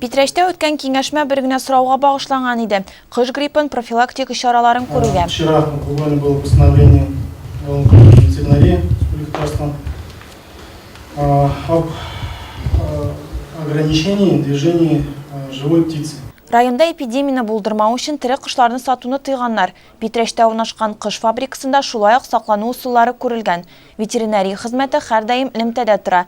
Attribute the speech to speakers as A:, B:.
A: Питрәчтә үткән киңәшмә бер генә сорауга багышланган иде, кош гриппын профилактик чараларын күрүгә. Вчера у Дуни было постановление о управлении ветеринарии Республики Татарстан об ограничении движения живой птицы. Районда эпидемияне булдырмау өчен тере кошларны сатуны тыйганнар. Питрәчтә урнашкан кош фабрикасында шулай ук саклану ысуллары күрелгән. Ветеринария хезмәте һәрдаим элемтәдә тора.